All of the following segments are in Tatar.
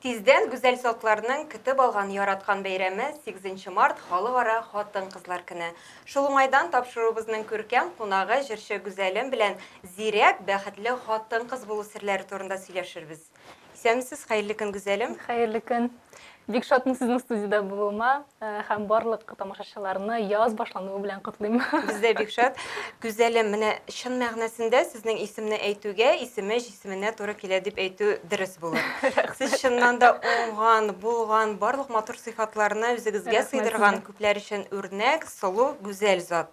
Тиздән Гүзәл Салкларның көтеп алган яраткан бәйрәме, сигезенче март, Халыкара хатын-кызлар көне. Шул уңайдан тапшыруыбызның күркәм кунагы, җырчы Гүзәлем белән зирәк, бәхетле хатын-кыз булу серләре турында сөйләшербез. Исәнмесез, хәерле көн, Гүзәлем! Хәерле көн! Бик шатмын сезнең студиядә булуыма һәм барлык тамашачыларны яз башлануы белән котлыйм. Без дә бик шат. Гүзәлем, менә чын мәгънәсендә сезнең исемне әйтүгә, исеме җисеменә туры килә дип әйтү дөрес булыр. Сез чыннан да уңган, булган, барлык матур сыйфатларны үзегезгә сыйдырган, күпләр өчен үрнәк, сылу, гүзәл зат.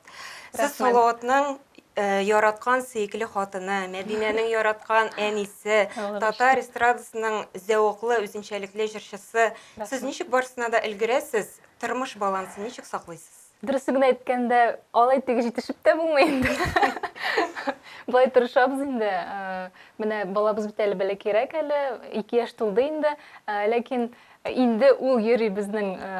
Сез Салаватның э, яраткан сөекле хатыны, Мәдинәнең яраткан әнисе, татар эстрадасының зәвыклы, үзенчәлекле җырчысы. Сез ничек барысына да өлгерәсез? Тормыш балансын ничек саклыйсыз? Дөресен генә әйткәндә, алай теге җитешеп тә булмый инде. Былай тырышабыз инде. Э, менә балабыз бит әле бәләкәйрәк әле, ике яшь тулды инде. Э, ләкин инде ул йөри безнең э,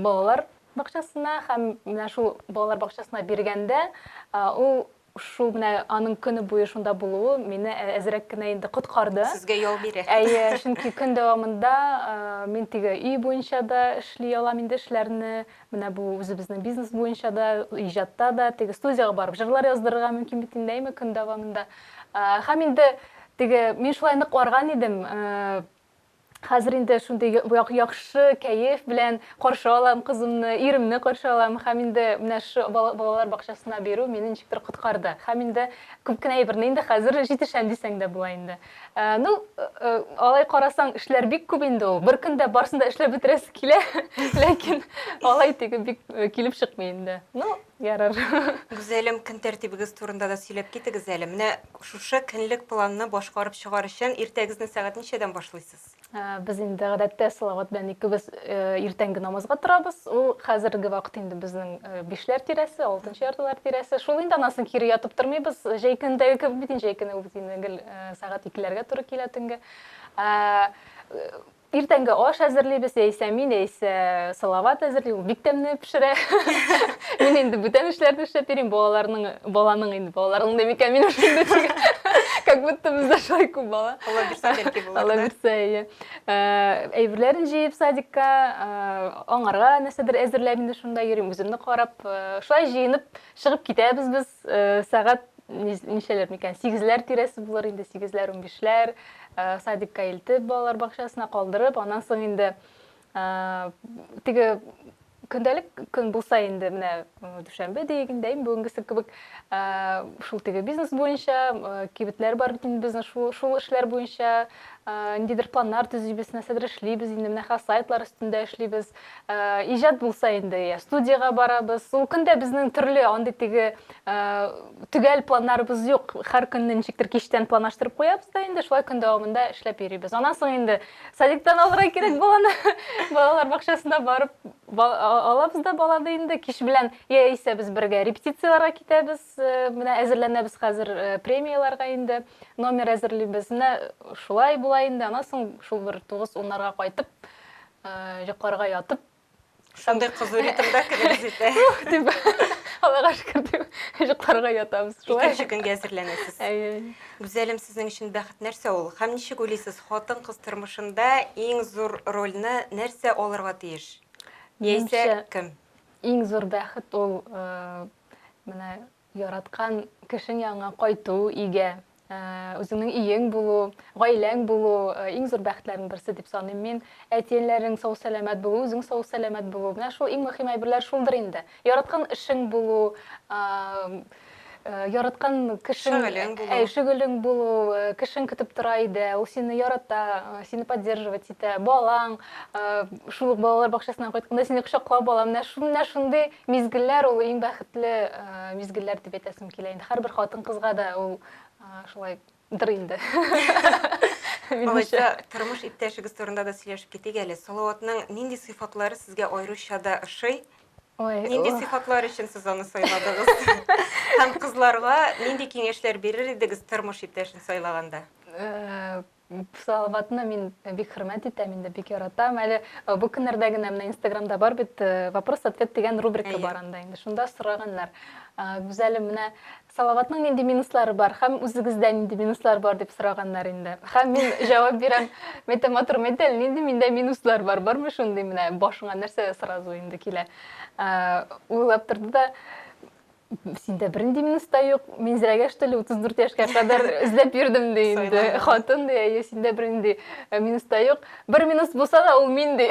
балалар бакчасына һәм менә шул балалар бакчасына биргәндә, ул шул менә аның көне буе шунда булуы мине әзрәк кенә инде коткарды. Сезгә ял бирә. Әйе, чөнки көн дәвамында мин теге өй буенча да эшли алам инде эшләрне, менә бу үзебезнең бизнес буенча да, иҗатта да, теге студиягә барып җырлар яздырырга мөмкин бит инде, әйме, көн дәвамында. Һәм инде теге мин шулай нык арган идем, Хәзер инде шундый яхшы кәеф белән каршы алам кызымны, иремне каршы алам һәм инде менә шу балалар бакчасына бирү мине ничектер коткарды. Һәм инде күп кенә әйберне инде хәзер җитешәм дисәң дә була инде. Ну, алай карасаң, эшләр бик күп инде ул. Бер көндә барсын да эшләп бетерәсе килә, ләкин алай теге бик килеп чыкмый инде. Ну, Ярар. Гүзәлем, көн тәртибегез турында да сөйләп китегез әле. Менә шушы көнлек планны башкарып чыгар өчен иртәгезне сәгать ничәдән башлыйсыз? Без инде гадәттә Салават белән икебез иртәнге намазга торабыз. Ул хәзерге вакыт инде безнең бишләр тирәсе, алтынчы яртылар тирәсе. Шул инде, аннан соң кире ятып тормыйбыз. Җәй көндәге кебек бит инде, җәй көне ул бит инде гел сәгать икеләргә туры килә төнге. Иртәнге аш әзерлибез, яисә мин, яисә Салават әзерли, ул бик тәмне пешерә. Мин инде бүтән эшләрне эшләп йөрим, балаларның, баланың инде, балаларның да микән мин эшлим дә чыга. Как будто бездә шулай күп бала. Алла бирсә бәлки булыр. Алла бирсә, ие. Әйберләрен җыеп садикка, аңарга нәрсәдер әзерләп инде шунда йөрим, үземне карап, шулай җыенып чыгып китәбез без, сәгать ничәләр микән сигезләр тирәсе булыр инде сигезләр унбишләр э, садикка илтеп балалар бакчасына калдырып аннан соң инде э, теге көндәлек көн булса инде менә э, дүшәмбе дигәндә инде бүгенгесе кебек шул теге бизнес буенча кибетләр бар бит инде безнең шул шул эшләр буенча ниндидер планнар төзибез нәрсәдер эшлибез инде менә хәзер сайтлар өстендә эшлибез иҗат булса инде я студияга барабыз ул көндә безнең төрле андый теге төгәл планнарыбыз юк һәр көнне ничектер кичтән планлаштырып куябыз да инде шулай көн дәвамында эшләп йөрибез аннан соң инде садиктан алырга кирәк баланы балалар бакчасына барып алабыз да баланы инде кич белән яисә без бергә репетицияләргә китәбез менә әзерләнәбез хәзер премияләргә инде номер әзерлибез менә шулай була инде аннан соң шул бер тугыз уннарга кайтып йокларга ятып шундый кызу ритмда керәбез итә дип аллага шөкер дип йокларга ятабыз шулай икенче көнгә әзерләнәсез әйе гүзәлем сезнең өчен бәхет нәрсә ул һәм ничек уйлыйсыз хатын кыз тормышында иң зур рольне нәрсә алырга тиеш яисә кем иң зур бәхет ул э, менә Яраткан кешең янына кайту, өйгә, үзеңнең өең булу, гаиләң булу, иң зур бәхетләрнең берсе дип саныйм мин. Әти-әниләрнең сау-сәламәт булуы, үзең сау-сәламәт булу, менә шул иң мөһим әйберләр шулдыр инде. Яраткан эшең булу, яраткан кешең, шөгылең булу, әй, шөгылең булу, кешең көтеп тора өйдә, ул сине ярата, сине поддерживать итә, балаң, шул ук балалар бакчасыннан кайтканда сине кочаклап ала, менә шундый Мизгелләр ул иң бәхетле мизгелләр дип әйтәсем килә инде. Һәрбер хатын-кызга да ул шулай дыр инде. Алайса, тормыш иптәшегез турында да сөйләшеп китик әле. Салаватның нинди сыйфатлары сезгә аеруча да ошый? Нинди сыйфатлар өчен сез аны сайладыгыз? Һәм кызларга нинди киңәшләр бирер идегез тормыш иптәшен сайлаганда? Салаватны мин бик хөрмәт итәм инде, бик яратам. Әле бу көннәрдә генә менә Инстаграмда бар бит вопрос-ответ дигән рубрика бар анда инде. Шунда сораганнар. Гүзәлем, менә Салаватның нинди минуслары бар һәм үзегездә нинди минуслар бар дип сораганнар инде. Һәм мин җавап бирәм, мәйтә матур мәйтә, нинди миндә минуслар бар, бармы шундый менә башыңа нәрсә сразу инде килә. Уйлап торды да, синдә бернинди минус та юк минзирәгә что ли утыз дүрт яшькә кадәр эзләп йөрдем ди инде хатын ди әйе синдә бернинди э, минус та юк бер минус булса да ул мин ди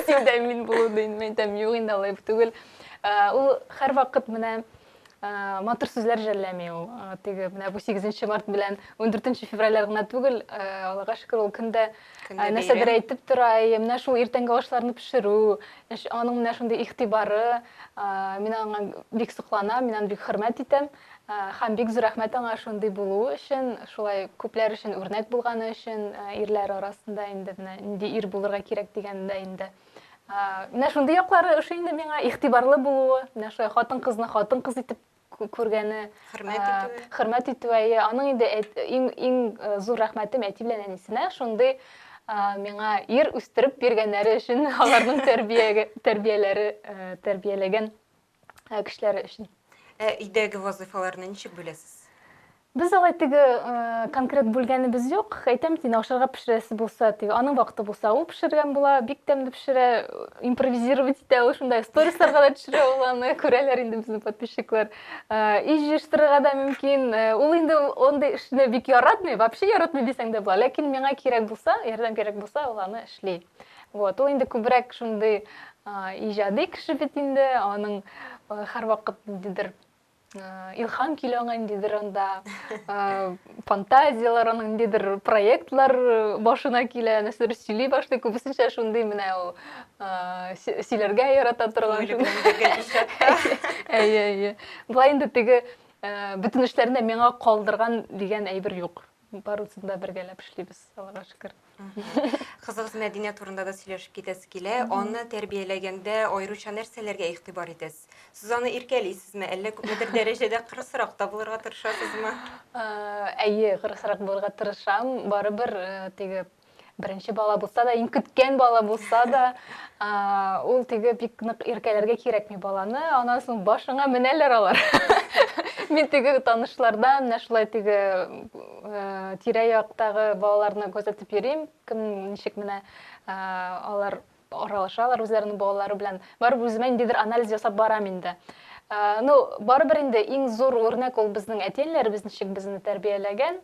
синдә мин булу ди мин әйтәм юк инде алай түгел э, ул һәрвакыт менә э, матур сүзләр жәлләми ул теге менә бу сигезенче март белән ундүртенче февральләр генә түгел аллага шөкер ул көндә Ә, нәрсәдер әйтеп тора, әйе, менә шул иртәнге ашларны пешерү, аның менә шундый игътибары, мин аңа бик сокланам, мин аны бик хөрмәт итәм, һәм бик зур рәхмәт аңа шундый булуы өчен, шулай күпләр өчен үрнәк булганы өчен, ирләр арасында инде менә нинди ир булырга кирәк дигәндә инде. Менә шундый яклары ошый инде миңа, игътибарлы булуы, менә шулай хатын-кызны хатын-кыз итеп күргәне хөрмәт итүе хөрмәт итүе әйе аның инде иң иң э, зур рәхмәтем әти белән әнисенә шундый миңа ир үстереп биргәннәре өчен аларның тәрбиягә тәрбияләре э, тәрбияләгән э, кешеләре өчен ә өйдәге вазыйфаларны ничек бүләсез Без алай теге конкрет бүлгәнебез юк. Әйтәм, син ашарга пешерәсе булса, теге аның вакыты булса, ул пешергән була, бик тәмле пешерә, импровизировать итә ул шунда. Сторисларга да төшерә ул аны, күрәләр инде безнең подписчиклар. И җыештырырга да мөмкин. Ул инде андый эшне бик яратмый, вообще яратмый дисәң дә була. Ләкин миңа кирәк булса, ярдәм кирәк булса, ул аны эшли. Вот, ул инде күбрәк шундый иҗади кеше бит инде, аның һәрвакыт ниндидер илхам килү аңа ниндидер анда фантазияләр аның ниндидер проектлар башына килә нәрсәдер сөйли башлый күбесенчә шундый менә ул сөйләргә ярата торган әйе әйе болай инде теге бөтен эшләрне миңа калдырган дигән әйбер юк Барысын да бергәләп эшлибез, Аллага шөкер. Кызыгыз Мәдинә турында да сөйләшеп китәсе килә. Аны тәрбияләгәндә аеруча нәрсәләргә игътибар итәсез? Сез аны иркәлисезме, әллә күпмедер дәрәҗәдә кырысрак та булырга тырышасызмы? Әйе, кырысрак булырга тырышам. Барыбер теге беренче бала булса да иң көткән бала булса да ул теге бик нык иркәләргә кирәкми баланы аннан соң башыңа менәләр алар мин теге танышлардан менә шулай теге э, тирә яктагы балаларны күзәтеп йөрим кем ничек менә э, алар аралашалар үзләренең балалары белән. Барып үземә ниндидер анализ ясап барам инде. Ну, барыбер инде иң зур үрнәк ул безнең әти-әниләребез ничек безне тәрбияләгән.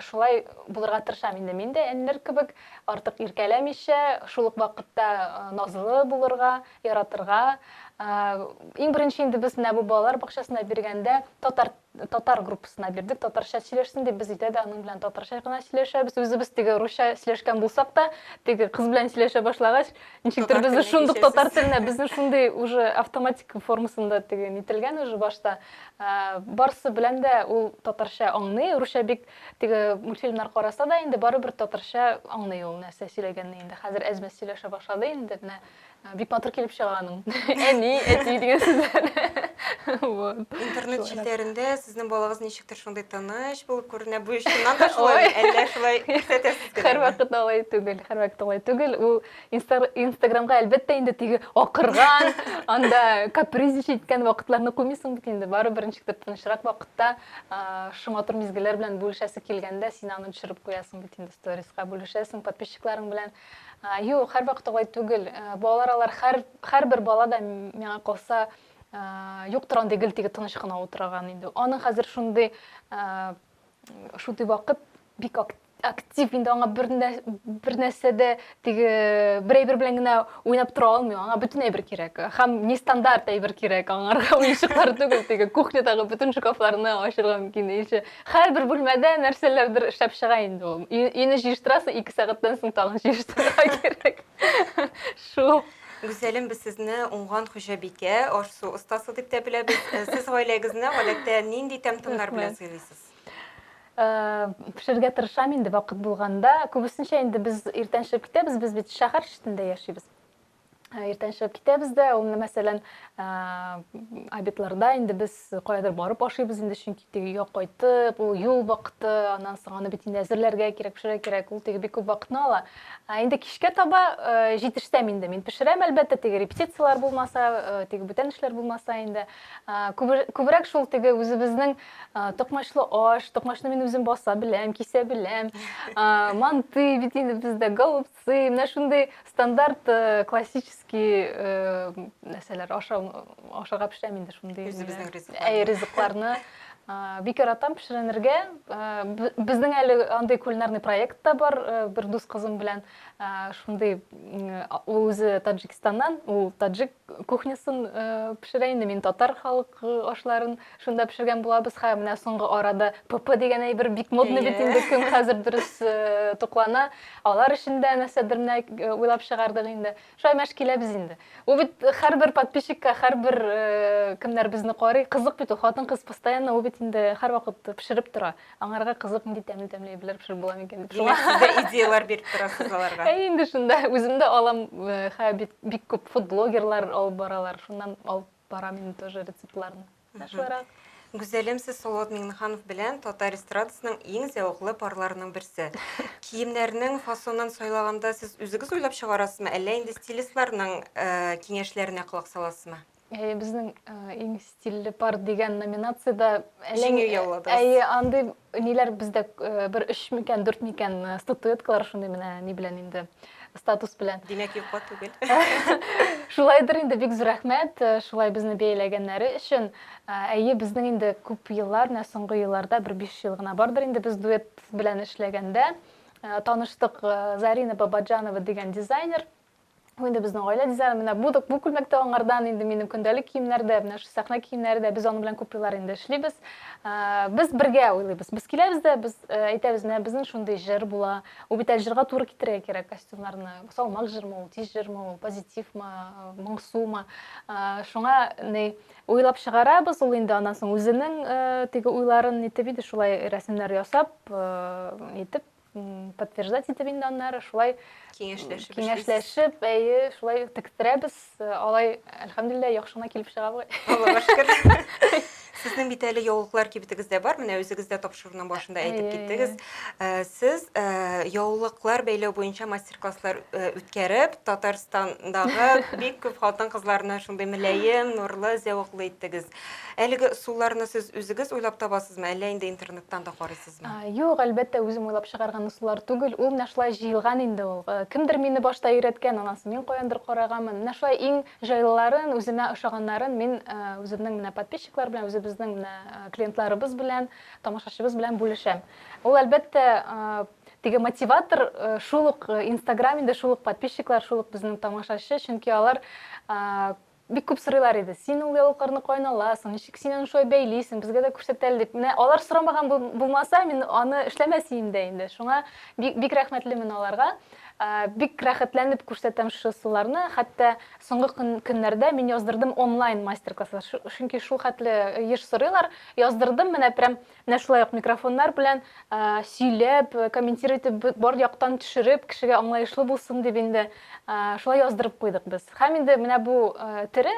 Шулай булырга тырышам инде мин дә әниләр кебек, артык иркәләмичә, шул ук вакытта назлы булырга, яратырга. Иң беренче инде без менә бу балалар бакчасына биргәндә татар татар группасына бирдек, татарча сөйләшсен дип, без өйдә дә аның белән татарча гына сөйләшәбез. Үзебез теге русча сөйләшкән булсак та, теге кыз белән сөйләшә башлагач, ничектер безне шундук татар теленә, безне шундый уже автоматик формасында теге нителгән уже башта. Ә, барсы белән дә ул татарча аңлый, русча бик теге мультфильмнар караса да инде барыбер татарча аңлый ул нәрсә сөйләгәнне инде. Хәзер әз-мәз сөйләшә башлады инде, менә бик батыр килеп чыга аның әни әти дигән сүзләр интернет челтәрендә сезнең балагыз ничектер шундый тыныч булып күренә бу чыннан да шулай әллә шулай күрсәтәсез һәрвакыт алай түгел һәрвакыт алай түгел ул инстаграмга әлбәттә инде теге акырган анда капризничать иткән вакытларны куймыйсың бит инде барыбер ничектер тынычрак вакытта шуң матур мизгелләр белән бүлешәсе килгәндә син аны төшереп куясың бит инде сториска бүлешәсең подписчикларың белән Юк, һәрвакыт алай түгел. Балалар алар хәр, һәрбер бала да миңа калса юк тора андый гел теге тыныч кына утыраган инде. Аның хәзер шундый шундый вакыт бик актив инде аңа бер бер нәрсә дә теге бер әйбер белән генә уйнап тора алмый аңа бөтен әйбер кирәк һәм нестандарт әйбер кирәк аңарга уенчыклар түгел теге кухнядагы бөтен шкафларны ачырга мөмкин ише Һәрбер бүлмәдә нәрсәләрдер эшләп чыга инде ул. Өйне җыештырасың, ике сәгатьтән соң тагын җыештырырга кирәк. Шул. Гүзәлем, без сезне уңган хуҗабикә, аш-су остасы дип тә беләбез. Э, сез гаиләгезне гадәттә нинди тәм-томнар белән сыйлыйсыз? Э, пешерергә тырышам инде вакыт булганда. Күбесенчә инде без иртән чыгып китәбез, без бит шәһәр читендә яшибез. Иртән чыгып китәбез дә, ул менә мәсәлән, обедларда инде без каядыр барып ашыйбыз инде, чөнки теге өйгә кайтып, ул юл вакыты, аннан соң аны бит инде әзерләргә кирәк, пешерергә кирәк, ул теге бик күп вакытны ала. Ә инде кичкә таба җитешсәм инде, мин пешерәм, әлбәттә, теге репетицияләр булмаса, теге бүтән эшләр булмаса инде. Күбрәк шул теге үзебезнең токмачлы аш, токмачны мин үзем баса беләм, кисә беләм, манты бит инде бездә, голубцы. Сый, менә шундый стандарт э, классический э, нәрсәләр ашау ашарга пешерәм инде шундый. Үзебезнең менә. ризыкларны. Әй, ризыкларны. А, Бик яратам пешеренергә. А, б- Безнең әле андый кулинарный проект та бар э, бер дус кызым белән. А, Шундый м, а- ул үзе Таджикстаннан, ул таджик кухнясын э, пешерә инде, мин татар халык э, ашларын Шунда пешергән булабыз ха, менә соңгы арада ПП дигән әйбер бик модный бит инде, кем хәзер дөрес э, туклана. Алар өчен дә нәрсәдер менә э, уйлап чыгардык инде. Шулай мәш киләбез инде. Ул бит һәрбер подписчикка, һәрбер э, кемнәр безне карый, кызык бит ул. Хатын-кыз постоянно ул бит инде һәрвакыт пешереп тора. Аңарга кызык нинди тәмле-тәмле әйберләр пешереп була микән дип. Шулай Сезгә идеяләр биреп торасыз аларга. Әй инде шунда үзем дә алам, э, хә бит бик күп фудблогерлар алып баралар, шуннан алып Парамин тоже рецептларны. Шуларак. Гүзәлем, сез Салават Миңнеханов белән татар эстрадасының иң зәвыклы парларының берсе. Киемнәрнең фасонын сайлаганда сез үзегез уйлап чыгарасызмы, әллә инде стилистларның э, киңәшләренә колак саласызмы? Әйе, безнең э, иң стильле пар дигән номинацияда Җиңү яуладыгыз. Әйе, андый Ниләр бездә бер өч микән, дүрт микән статуэткалар шундый менә ни белән инде статус белән. Димәк, юкка түгел. Шулайдыр инде, бик зур рәхмәт, шулай безне бәяләгәннәре өчен. Әйе, безнең инде күп еллар, менә соңгы елларда бер биш ел гына бардыр инде без дуэт белән эшләгәндә таныштык Зарина Бабаджанова дигән дизайнер. Инде безнең гаилә дизайны менә бу бу күлмәк тә аңардан, инде минем көндәлек киемнәр дә, менә шул сәхнә киемнәре дә, без аның белән күп еллар инде эшлибез. Без бергә уйлыйбыз. Без киләбез дә, без әйтәбез, менә безнең шундый җыр була. Ул бит әле җырга туры китерергә кирәк костюмнарны. Салмак җырмы ул, тиз җырмы ул, позитивмы, моңсумы. Шуңа ни уйлап чыгарабыз, ул инде аннан соң үзенең теге уйларын итеп иде шулай рәсемнәр ясап, итеп подтверждать итеп инде аннары шулай киңәшләшеп киңәшләшеп әйе шулай тектерәбез алай әлхәмдулилла яхшы гына килеп чыга бугай аллага шөкер сезнең бит әле яулыклар кибетегез дә бар менә үзегез дә тапшыруның башында әйтеп киттегез э, сез э, яулыклар бәйләү буенча мастер класслар э, үткәреп татарстандагы бик күп хатын кызларны шундый мөләем нурлы зәвыклы иттегез әлеге ысулларны сез үзегез уйлап табасызмы әллә инде интернеттан да карыйсыз җыйдыгызмы? Юк, әлбәттә, үзем уйлап чыгарган ысуллар түгел, ул менә шулай җыелган инде ул. Кемдер мине башта өйрәткән, аннан соң мин каяндыр караганмын. Менә шулай иң җайлыларын, үземә ошаганнарын мин үземнең менә подписчиклар белән, үзебезнең менә клиентларыбыз белән, тамашачыбыз белән бүлешәм. Ул, әлбәттә, теге мотиватор шул ук Instagram инде, шул ук подписчиклар, шул ук безнең тамашачы, чөнки алар Бик күп сорыйлар иде, син ул яулыкларны каян аласың, ничек син аны шулай бәйлисең, безгә дә күрсәт әле дип. Менә алар сорамаган булмаса, мин аны эшләмәс идем дә инде. Шуңа бик рәхмәтлемен аларга. Бик рәхәтләнеп күрсәтәм шушы суларны. Хәтта соңгы көннәрдә мин яздырдым онлайн мастер-класслар, чөнки шулхәтле еш сорыйлар. Яздырдым, менә прям Менә шулай ук микрофоннар белән сөйләп, комментир итеп, бар яктан төшереп, кешегә аңлаешлы булсын дип инде шулай яздырып куйдык без. Һәм инде менә бу тере,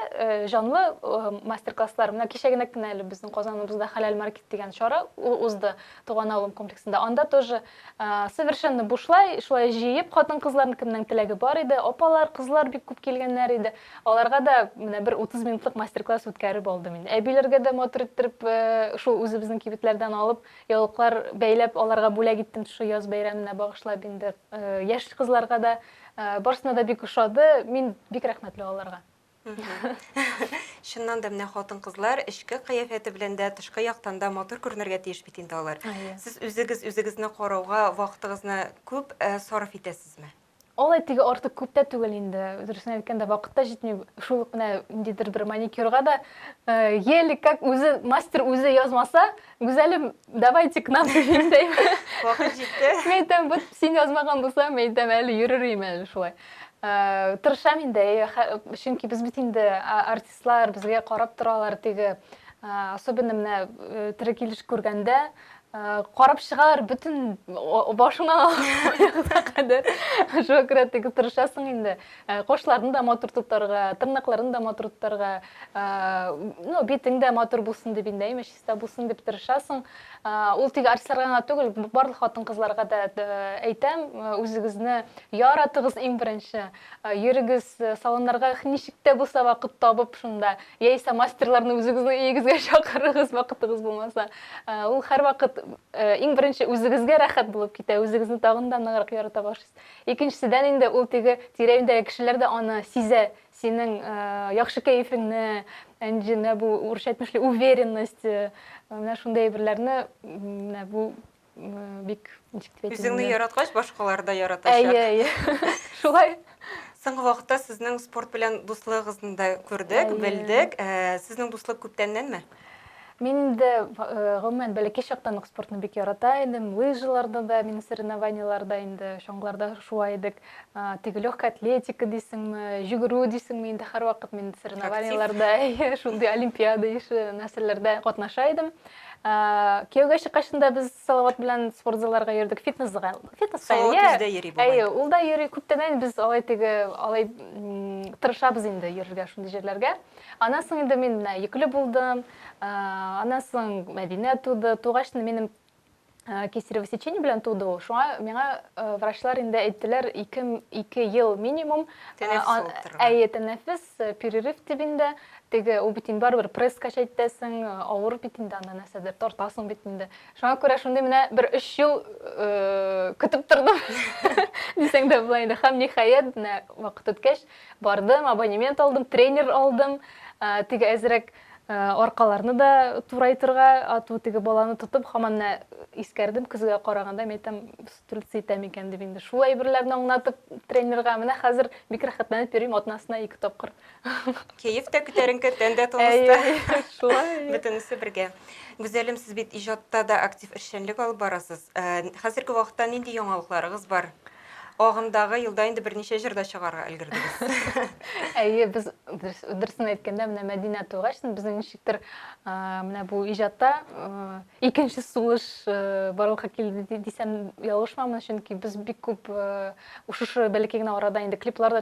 җанлы мастер-класслар, менә кичә генә кенә әле безнең Казаныбызда Хәләл маркет дигән чара узды, Туган авылым комплексында. Анда тоже Совершенно бушлай, шулай җыеп, хатын-кызларны кемнең теләге бар иде, апалар, кызлар бик күп килгәннәр иде. Аларга да менә бер 30 минутлык мастер-класс үткәреп алдым инде. Әбиләргә дә матур иттереп, шул үзебезнең кибетләрдән алып, яулыклар бәйләп, аларга бүләк иттем шушы яз бәйрәменә багышлап инде. Яшь кызларга да, барысына да бик ошады. Мин бик рәхмәтле аларга. Чыннан да менә хатын-кызлар эчке кыяфәте белән дә, тышкы яктан да матур күренергә тиеш бит инде алар. Сез үзегез үзегезне карауга вакытыгызны күп э, сарыф итәсезме? Алай теге артык күп тә түгел инде. Дөресен әйткәндә, вакыт та җитми. Шул ук менә ниндидер бер маникюрга да э, еле как үзе мастер үзе язмаса, Гүзәлем, давайте к нам дигәндәйм. Вакыт җитте. Мин әйтәм, вот син язмаган булсам, мин әйтәм, әле йөрер идем әле шулай. Э, Тырышам инде, чөнки без бит инде артистлар, безгә карап торалар теге. Э, особенно менә э, тере килеш күргәндә, карап чыгалар бөтен башыңнан аягына кадәр. Шуңа күрә теге тырышасың инде. Кошларны да матур тотарга, тырнакларын да матур тотарга, ну, битең дә матур булсын дип инде, имеш. Дә булсын дип тырышасың. Ул тик артистларга гына түгел, барлык хатын-кызларга да әйтәм, үзегезне яратыгыз иң беренче. Йөрегез салоннарга ничек тә булса вакыт табып шунда. Яисә мастерларны үзегезнең өегезгә чакырыгыз, вакытыгыз булмаса. Ул һәрвакыт иң беренче үзегезгә рәхәт булып китә, үзегезне тагын да ныграк ярата башлыйсыз. Икенчедән инде ул теге тирә-юньдәге кешеләр дә аны сизә, Синең яхшы кәефеңне, Әнҗе, менә бу урысча әйтмешли, уверенность, менә шундый әйберләрне, менә бу бик ничек дип әйтергә. Үзеңне яраткач, башкалар да яратачак. Әйе, әйе. Шулай. Соңгы вакытта сезнең спорт белән дуслыгыгызны да күрдек, белдек. Сезнең дуслык күптәннәнме? Мин инде, гомумән, бәләкәй чактан ук спортны бик ярата идем. Лыжаларда да, мин соревнованиеларда инде, чаңгыларда шуа идек. Теге легкая атлетика дисеңме, йөгерү дисеңме, инде һәрвакыт мин соревнованиеларда, шундый олимпиада ише нәрсәләрдә катнаша идем. Кияүгә чыккачын да без Салават белән спорт залларга йөрдек, фитнес залга. Фитнес залга йөрдек. Салават йөри бу. Әйе, ул да йөри. Күптәннән без алай теге, алай тырышабыз инде йөрергә шундый җирләргә. Аннан соң инде мин менә йөкле булдым. Аннан соң Мәдинә туды. Тугач минем кесарево сечение белән туды ул. Шуңа миңа врачлар инде әйттеләр, ике, ике ел минимум. Әйе, тәнәфес, перерыв дип инде. Теге, ул бит инде барыбер пресс качать итәсең, авыр бит инде анда нәрсәдер тартасың бит инде. Шуңа күрә шундый менә бер өч ел көтеп тордым. Дисәң дә була инде. Һәм ниһаять, менә вакыт үткәч, Бардым, абонемент алдым, тренер алдым. Теге әзрәк аркаларны да турайтырга, ату теге баланы тотып, хаман да искәрдем, көзгә караганда, мин әйтәм, стрельцы итәм икән дип инде. Шул әйберләрне аңлатып тренерга, менә хәзер бик рәхәтләнеп йөрим, атнасына ике тапкыр. Кәеф тә күтәренке, тән дә тыныч. Шулай. Бөтенесе бергә. Гүзәлем, сез бит иҗатта да актив эшчәнлек алып барасыз. Хәзерге вакытта нинди яңалыкларыгыз бар? Агымдагы елда инде берничә җыр да чыгарга өлгердегез. Әйе, без дөресен әйткәндә, менә Мәдинә тугач, безнең ничектер менә бу иҗатта икенче сулыш барлыкка килде дисәм, ялгышмамын, чөнки без бик күп шушы бәләкәй генә арада инде клиплар да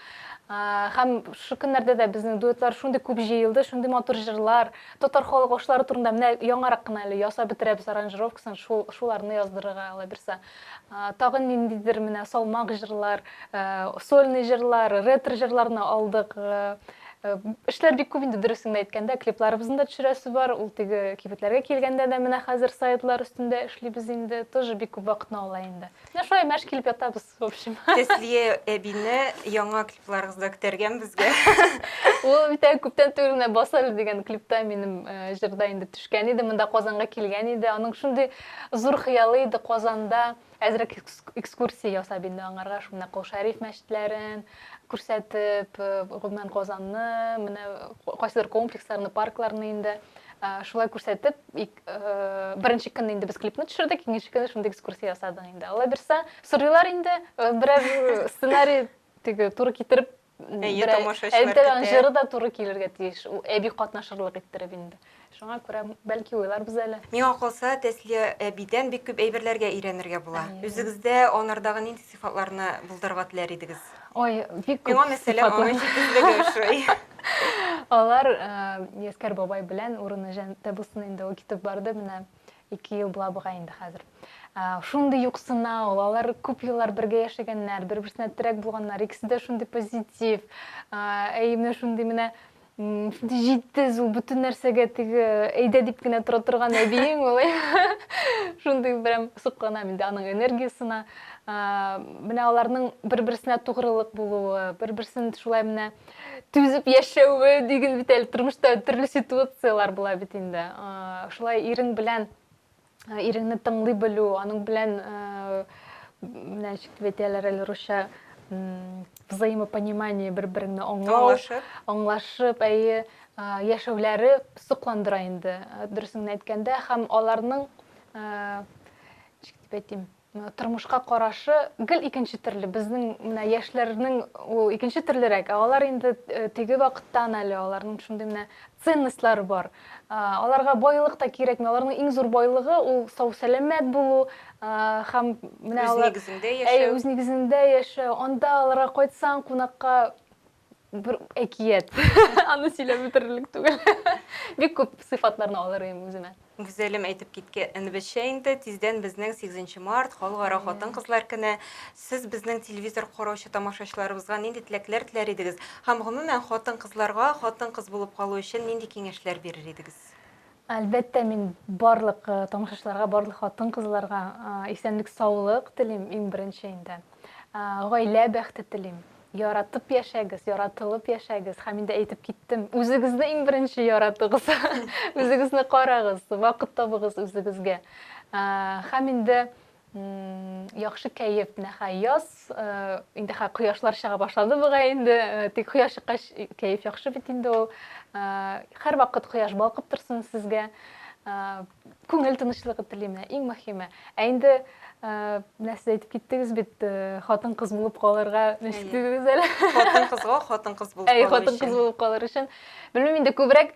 Һәм шушы көннәрдә дә безнең дуэтлар шундый күп җыелды, шундый матур җырлар, татар халык ашлары турында менә яңарак кына әле ясап бетерәбез аранжировкасын, шул шуларны яздырырга алабирса. Тагын ниндидер менә салмак җырлар, сольный җырлар, ретро җырларны алдык. Эшләр бик күп инде дөресен әйткәндә, клипларыбызны да төшерәсе бар. Ул теге кибетләргә килгәндә дә менә хәзер сайтлар өстендә эшлибез инде, тоже бик күп вакытны ала инде. Менә шулай мәш килеп ятабыз. В общем. Тәслия әбине яңа клипларыгызда көтәргән безгә. Ул бит әле күптән түгел менә Басар дигән клипта минем э, җырда инде төшкән иде, монда Казанга килгән иде. Аның шундый зур хыялы иде Казанда әзрәк экскурсия ясап инде аңарга шуны Кол Шәриф мәчетләрен күрсәтеп, э, гомумән Казанны, менә кайсыдыр комплексларны, паркларны инде э, шулай күрсәтеп, беренче көнне инде без клипны төшердек икенче көнне шундый экскурсия ясадык инде алла бирса сорыйлар инде берәр сценарий теге туры китереп әйе тамашачылар көтә җыры да туры килергә тиеш әби катнашырлык иттереп инде шуңа күрә бәлки уйларбыз әле миңа калса тәслия әбидән бик күп әйберләргә өйрәнергә була үзегездә анардагы нинди сыйфатларны булдырырга теләр идегез Ой, бик күп. Миңа мәсәлән, аның җитезлеге ошый. Алар Яскәр э, бабай белән урыны җәннәттә булсын инде ул китеп барды менә ике ел була бугай инде хәзер. Э, шундый юксына ул, алар күп еллар бергә яшәгәннәр, бер-берсенә терәк булганнар, икесе дә шундый позитив. Э, әй менә шундый менә Җитез ул бөтен нәрсәгә теге әйдә дип кенә тора торган әбиең ул. Шундый берәм сокланам инде аның энергиясенә. Менә аларның бер-берсенә тугрылык булуы, бер-берсен шулай менә түзеп яшәве диген бит әле тормышта төрле ситуацияләр була бит инде. Шулай ирең белән Э, иреңне тыңлый белү аның белән э, менә шикелле әйтәләр әле русча взаимопонимание бер береңне аңлау аңлашып әйе э, яшәүләре сокландыра инде дөресен әйткәндә һәм аларның ничек дип әйтим Тормышка карашы гел икенче төрле. Безнең менә яшьләрнең ул икенче төрлерәк. Ә алар инде теге вакыттан әле, аларның шундый менә ценностьлары бар. Аларга байлык та кирәкми. Аларның иң зур байлыгы ул сау-сәламәт булу һәм менә алар үз нигезендә яшәү. Әйе, үз нигезендә яшәү. Анда аларга кайтсаң кунакка, бер әкият аны сөйләп бетерерлек түгел бик күп сыйфатларны алыр идем үземә Гүзәлем әйтеп китке инбеше инде тиздән безнең 8 март халыкара хатын кызлар көне сез безнең телевизор караучы тамашачыларыбызга нинди теләкләр теләр идегез һәм гомумән хатын кызларга хатын кыз булып калу өчен нинди киңәшләр бирер идегез Әлбәттә, мин барлык тамашачыларга, барлык хатын-кызларга исәнлек-саулык телим, иң беренче инде. Гаилә бәхте телим. Яратып яшәгез, яратылып яшәгез. Һәм инде әйтеп киттем, үзегезне иң беренче яратыгыз. Үзегезне карагыз, вакыт табыгыз үзегезгә. Һәм инде Яхшы кәеф, нәхәй яз. Инде хә кояшлар чыга башлады бугай инде. Тик кояш чыккач кәеф яхшы бит инде ул. Һәрвакыт кояш балкып торсын сезгә. Күңел тынычлыгы телим менә иң мөһиме. Ә инде менә сез әйтеп киттегез бит, хатын-кыз булып калырга ничек дидегез әле? Хатын-кызга хатын-кыз булып калыр өчен. Әй, хатын-кыз булып калыр өчен. Белмим инде күбрәк